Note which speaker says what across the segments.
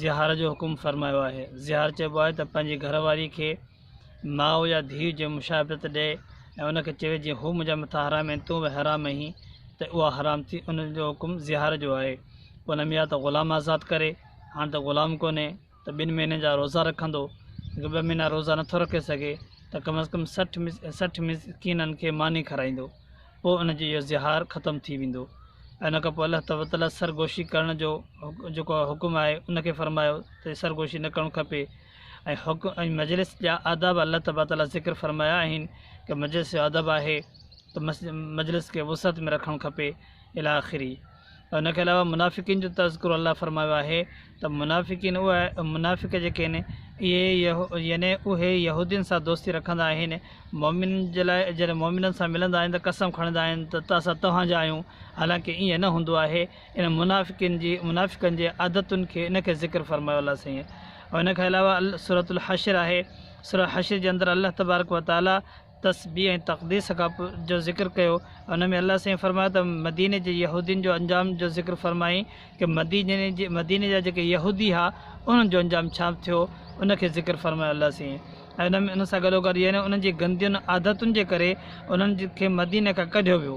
Speaker 1: زهار جو حڪم فرمايو آهي زهار چئبو آهي ته پنهنجي گهر واري کي ماء يا ڌيء جي مشابهت ڏئي ۽ ان کي چوي جي هو منهنجا مٿا حرام آهن تون به حرام آهين ته اها حرام ٿي ان جو حڪم زهار جو آهي پوء ان ۾ يا ته غلام آزاد ڪري هاڻ ته غلام ڪونهي ته ٻن مهينن جا روزا رکندو ٻه مهينا روزا نٿو رکي سگهي ته ڪم از ڪم سٺ سٺ مسڪينن کي ماني کارائيندو پوء ان جو اهو زهار ختم ٿي ويندو ۽ ان کان پوء الله تبتليٰ سرگوشي ڪرڻ جو جيڪو حڪم آهي ان کي فرمايو ته سرگوشي نه ڪرڻ کپي ۽ حڪ ۽ مجلس جا آداب الله تبتليٰ ذڪر فرمايا آهن ڪي مجلس جو ادب آهي ته مجلس کي وسعت ۾ رکڻ کپي الاخري ان کان علاوه منافقين جو تذڪرو الله فرمايو آهي ته منافقين اهي منافق جيڪي آهن اهي يعني اهي يهودين سان دوستي رکندا آهن مؤمنن جي لاء جڏهن مؤمنن سان ملندا آهن ته قسم کڻندا آهن ته اسان توهان جا آهيون حالانڪه ائين نه هوندو آهي ان منافقين جي منافقن جي عادتن کي ان کي ذڪر فرمايو الله سائين ان کان علاوه سورة الحشر آهي سورة حشر جي اندر الله تبارڪ وتعاليٰ تسبيح ۽ تقديس کان پوء جو ذڪر ڪيو ان ۾ الله سائين فرمايو ته مديني جي يهودين جو انجام جو ذڪر فرمائين ڪي مديني جي مديني جا جيڪي يهودي ها انهن جو انجام ڇا ٿيو ان کي ذڪر فرمايو الله سائين ۽ ان سان گڏو گڏ يعني انهن جي گندين عادتن جي ڪري انهن کي مديني کان ڪڍيو ويو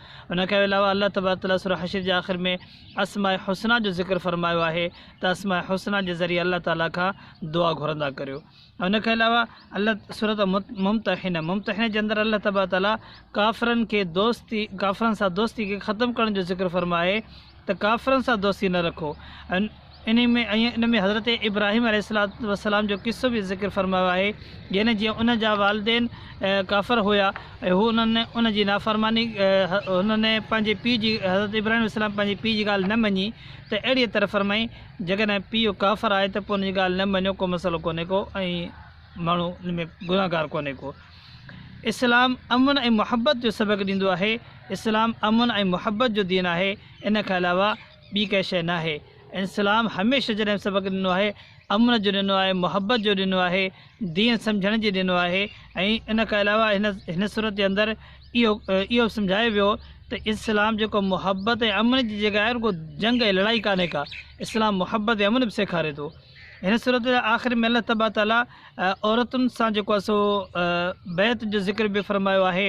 Speaker 1: ان کان علاوه الله تبارڪ وتعاليٰ سورة حشر جي آخر ۾ اسماء حسنيٰ جو ذڪر فرمايو آهي ته اسماء حسنيٰ جي ذريعي الله تعاليٰ کان دعا گهرندا ڪريو ۽ ان کان علاوه الله سورة ممتحنه ممتحنه جي اندر الله تبارڪ وتعاليٰ ڪافرن کي دوستي ڪافرن سان دوستي کي ختم ڪرڻ جو ذڪر فرمائي ته ڪافرن سان دوستي نه رکو ۽ انهي ۾ ۽ ان ۾ حضرت ابراهيم عليه السلام جو قصو به ذڪر فرمايو آهي يعني جيئن ان جا والدين ڪافر هيا ۽ هو انهن ان جي نافرماني انهن پنهنجي پيء جي حضرت ابراهيم عليه السلام پنهنجي پيء جي ڳالهه نه مڃي ته اهڙيء طرح فرمائي جيڪڏهن پيء ڪافر آهي ته پوء ان جي ڳالهه نه مڃو ڪو مسئلو ڪونهي ڪو ۽ ماڻهو ان ۾ گنهگار ڪونهي ڪو اسلام امن ۽ محبت جو سبق ڏيندو آهي، اسلام امن ۽ محبت جو دين آهي، ان کان علاوه ٻي ڪا شيء ناهي. اسلام هميشه جڏهن سبق ڏنو آهي، امن جو ڏنو آهي، محبت جو ڏنو آهي، دين سمجهڻ جي ڏنو آهي ۽ ان کان علاوه هن هن سورت جي اندر اهو اهو به سمجهايو ويو ته اسلام جيڪو محبت ۽ امن جي جڳهه آهي رڳو جنگ ۽ لڙائي ڪانهي ڪا، اسلام محبت ۽ امن به سيکاري ٿو. هن سورت جي آخر ۾ الله تبارڪ تعالي عورتن سان جيڪو آهي سو بيعت جو ذڪر به فرمايو آهي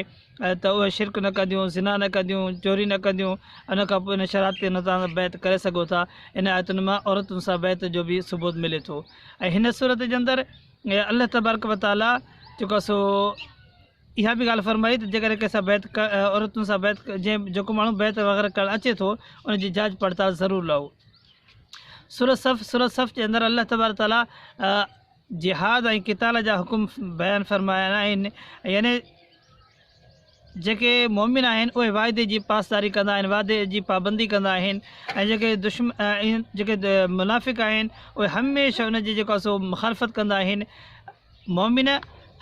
Speaker 1: ته اهي شرڪ نه ڪنديون زنا نه ڪنديون چوري نه ڪنديون ان کان پوء ان شرائط تي نظام بيعت ڪري سگهو ٿا ان آيتن مان عورتن سان بيعت جو به ثبوت ملي ٿو ۽ هن صورت جي اندر الله تبارڪ وتعاليٰ جيڪو سو اها به ڳالهه فرمائي ته جيڪڏهن ڪنهن سان بيعت عورتن سان بيعت جنهن جيڪو ماڻهو بيعت وغيره ڪرڻ اچي ٿو ان جي جاچ پڙتال ضرور لهو سورت صف سورت صف جي اندر الله تبارڪ تعالی جهاد ۽ قتال جا حڪم بيان فرمايا آهن يعني جيڪي مومن آهن اهي واعدي جي پاسداري ڪندا آهن واعدي جي پابندي ڪندا آهن ۽ جيڪي دشمن جيڪي منافق آهن اهي هميشه ان جي جيڪو سو مخالفت ڪندا آهن مؤمن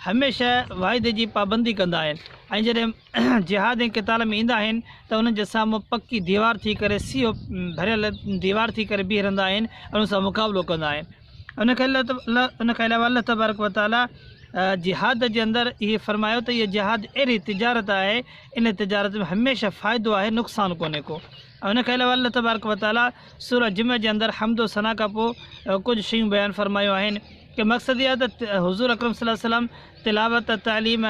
Speaker 1: هميشه وعدي جي پابندي ڪندا آهن ۽ جڏهن جهاد ۽ قتال ۾ ايندا آهن ته انهن جي سامهون پڪي ديوار ٿي ڪري سيهو ڀريل ديوار ٿي ڪري بيهي رهندا آهن ۽ انهن سان مقابلو ڪندا آهن ان کان ان کان علاوه الله تبارڪ وتعالي جهاد جي اندر اهي فرمايو ته اهي جهاد اهڙي تجارت آهي ان تجارت ۾ هميشه فائدو آهي نقصان ڪونهي ڪو ان کان علاوه الله تبارڪ وتعالي سورا جمع جي اندر حمد و ثنا کان پوء ڪجهه شيون بيان فرمايو آهن جو مقصد اهو آهي ته حضور اڪرم صلي الله عليه وسلم تلاوت، تعليم،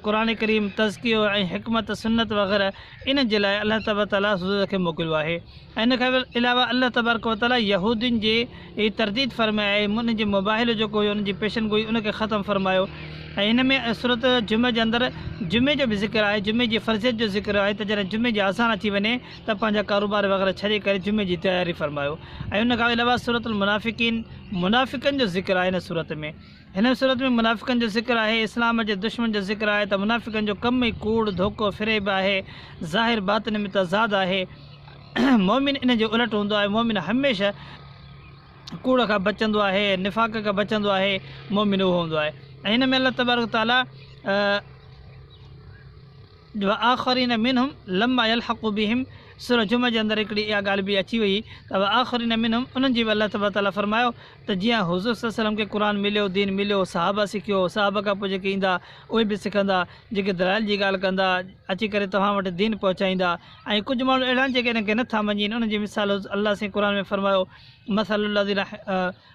Speaker 1: قرآن ڪريم، تزڪيو ۽ حڪمت سنت وغيره انهن جي لاء الله تبارڪ وتعاليٰ حضور کي موڪليو آهي ۽ ان کان علاوه الله تبارڪ وتعاليٰ يهودين جي ترديد فرمائي آهي انهن جي مباهلو جيڪو هيو انهن جي پيشن گوئي ان کي ختم فرمايو ۽ هن ۾ سورت جمعي جي اندر جمعي جو به ذڪر آهي جمعي جي فرضيت جو ذڪر آهي ته جڏهن جمعي جي آسان اچي وڃي ته پنهنجا ڪاروبار وغيره ڇڏي ڪري جمعي جي تياري فرمايو ۽ ان کان علاوه سورت المنافقين منافقن جو ذڪر آهي هن سورت ۾. هن سورت ۾ منافقن جو ذڪر آهي، اسلام جي دشمن جو ذڪر آهي ته منافقن جو ڪم ئي ڪوڙ، ڌوڪو، فريب آهي، ظاهر باطن ۾ تضاد آهي، مؤمن ان جي الٽ هوندو آهي، مؤمن هميشه ڪوڙ کان بچندو آهي، نفاق کان بچندو آهي، مؤمن اهو هوندو آهي ۽ هن ۾ الله تبارڪ و تعاليٰ. واخرين منهم لما يلحقوا بهم سوره جمعه جي اندر هڪڙي اها ڳالهه به اچي وئي ته واخرين منهم انهن جي به الله تبارڪ وتعاليٰ فرمايو ته جيئن حضور صلي وسلم کي قرآن مليو دين مليو صحابه سکيو صحابه کان پوء جيڪي ايندا اهي به سکندا جيڪي دلائل جي ڳالهه ڪندا اچي ڪري توهان وٽ دين پهچائيندا ۽ ڪجهه ماڻهو اهڙا آهن جيڪي ان کي نه ٿا مڃين انهن جي مثال الله سائين قرآن ۾ فرمايو مثل الذين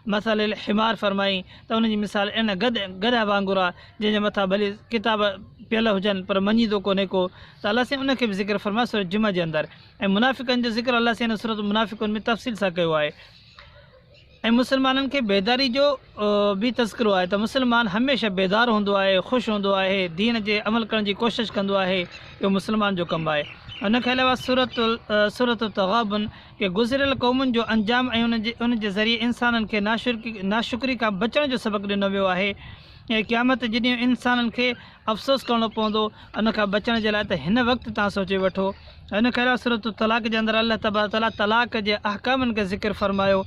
Speaker 1: مثل الحمار فرمائي ته ان جي مثال ان گد، گڏهه، وانگر آ جنهن جي مٿان ڀلي ڪتاب پيل هجن پر مڃيندو ڪونهي ڪو ته الله سائين ان کي به ذڪر فرمايو سورة جمعه جي اندر ۽ منافقن جو ذڪر الله سائين ان سورة المنافقون ۾ تفصيل سان ڪيو آهي ۽ مسلمانن کي بيداري جو به تذڪرو آهي ته مسلمان هميشه بيدار هوندو آهي خوش هوندو آهي دين جي عمل ڪرڻ جي ڪوشش ڪندو آهي اهو مسلمان جو ڪم آهي ان کي علاوه سورة سورة التغابن ڪي گذريل قومن جو انجام ۽ ان جي ذريعي انسانن کي ناشڪري کان بچڻ جو سبق ڏنو ويو آهي ۽ قيامت جي ڏينهن انسانن کي افسوس ڪرڻو پوندو ان کان بچڻ جي لاء ته هن وقت تان سوچي وٺو ان کان علاوه سورة الطلاق جي اندر الله تبارڪ وتعاليٰ طلاق جي احڪامن کي ذڪر فرمايو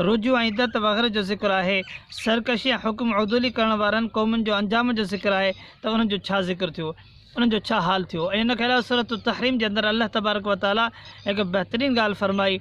Speaker 1: رجوع ۽ عدت وغيره جو ذڪر آهي سرڪشي ۽ حڪم عدولي ڪرڻ وارن قومن جو انجام جو ذڪر آهي ته انهن جو ڇا ذڪر ٿيو انهن جو ڇا حال ٿيو ۽ ان کان علاوه سورة التحريم جي اندر الله تبارڪ و تعاليٰ هڪ بهترين ڳالهه فرمائي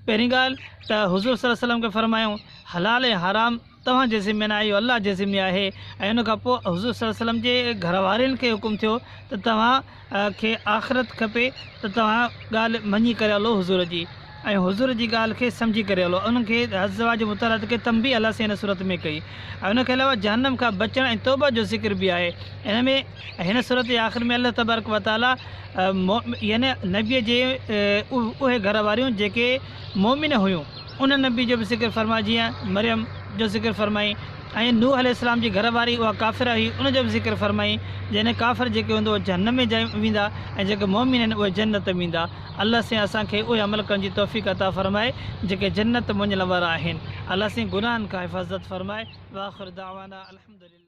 Speaker 1: پهرين ڳالهه ته حضور صلي الله عليه وسلم کي فرمايائون حلال ۽ حرام توهان جي ذمي ناهي اهو الله جي ذمي آهي ۽ ان کان پوء حضور صلي الله عليه وسلم جي گهر وارين کي حڪم ٿيو ته توهان کي آخرت کپي ته توهان ڳالهه مڃي ڪري هلو حضور جي ۽ حضور جي ڳالهه کي سمجهي ڪري هلو ۽ ان کي حضزواج جي مطالعات کي تنبيه الله سائين هن صورت ۾ ڪئي ۽ ان کي علاوه جهنم کان بچڻ ۽ توبه جو ذڪر به آهي ان ۾ ۽ هن صورت جي آخر ۾ الله تبارڪ وتعالي مؤمن يعني نبي جي اهي گهر واريون جيڪي مؤمن هيون انهن نبي جو به ذڪر فرمايو جيئن مريم جو ذڪر فرمائي ۽ نوح عليه السلام جي گهر واري اها ڪافره هئي ان جو به ذڪر فرمائي جنهن ڪافر جيڪي هوندو جهنم ۾ جائي ويندا ۽ جيڪي مؤمن آهن اهي جنت ۾ ويندا الله سين اسان کي اهي عمل ڪرڻ جي توفيق عطا فرمائي جيڪي جنت مڃڻ وارا آهن الله سين گناهن کان حفاظت فرمائي واخر دعوانا الحمدلله.